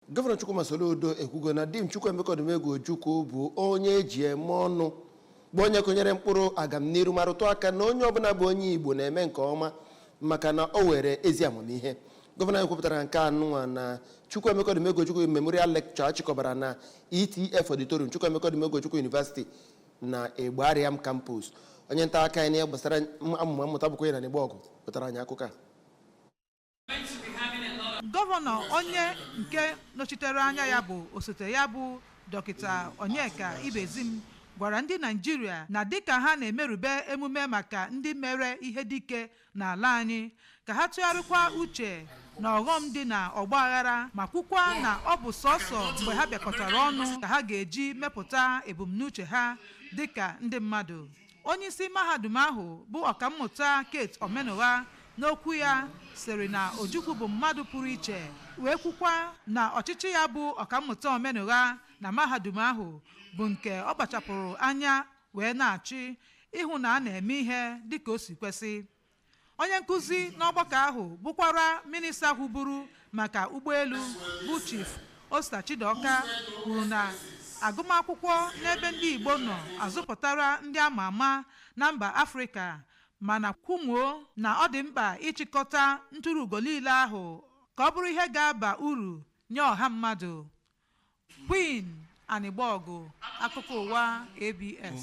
gọvanọ Chukwuma Soludo ekwugo na dim Chukwuemeka Odumegwu Ojukwu bụ onye eji eme ọnụ bụ onye kụnyere mkpụrụ agamniru ma rụtụ aka na onye ọbụla bụ onye Igbo na-eme nke ọma maka na o were ezi amamihe gọvanọ anyị kwupụtara nke a nụnwa na Chukwuemeka Odumegwu Ojukwu Memorial Lecture a chịkọbara na ETF Auditorium Chukwuemeka Odumegwu Ojukwu University na Igbariam Campus onye nta akụkọ anyị n'ihe gbasara amụma mmụta bụ Queen Anịgbọgụ butara anyị akụkọ a gọvanọ onye nke nọchitere anya ya bụ osote ya bụ dọkịta onyeka ibezim gwara ndị Naịjirịa na dịka ha na-emerube emume maka ndị mere ihe dike n'ala anyị ka ha tụgharịkwa uche na ọghọm dị na ọgba aghara ma kwukwa na ọ bụ sọsọ mgbe ha bịakọtara ọnụ ka ha ga-eji mepụta ebumnuche ha dịka ndị mmadụ Onyeisi mahadum ahụ bụ ọkammụta Kate Omenụgha n'okwu ya sịrị na Ojukwu bụ mmadụ pụrụ iche wee kwukwa na ọchịchị ya bụ ọkammụta Omenụgha na mahadum ahụ bụ nke ọ kpachapụrụ anya wee na-achị ịhụ na a na-eme ihe dịka o si kwesị onye nkuzi n'ọgbakọ ahụ bụkwara minista hụburu maka ụgbọelu bụ Chief Osita Chidoka kwuru na agụmakwụkwọ n'ebe ndị Igbo nọ azụpụtara ndị ama ama na mba Afrịka mana kwumuo na ọ dị mkpa ịchịkọta ntụrụugo niile ahụ ka ọ bụrụ ihe ga-aba uru nye ọha mmadụ Queen Anịgbọgụ akụkọ ụwa ABS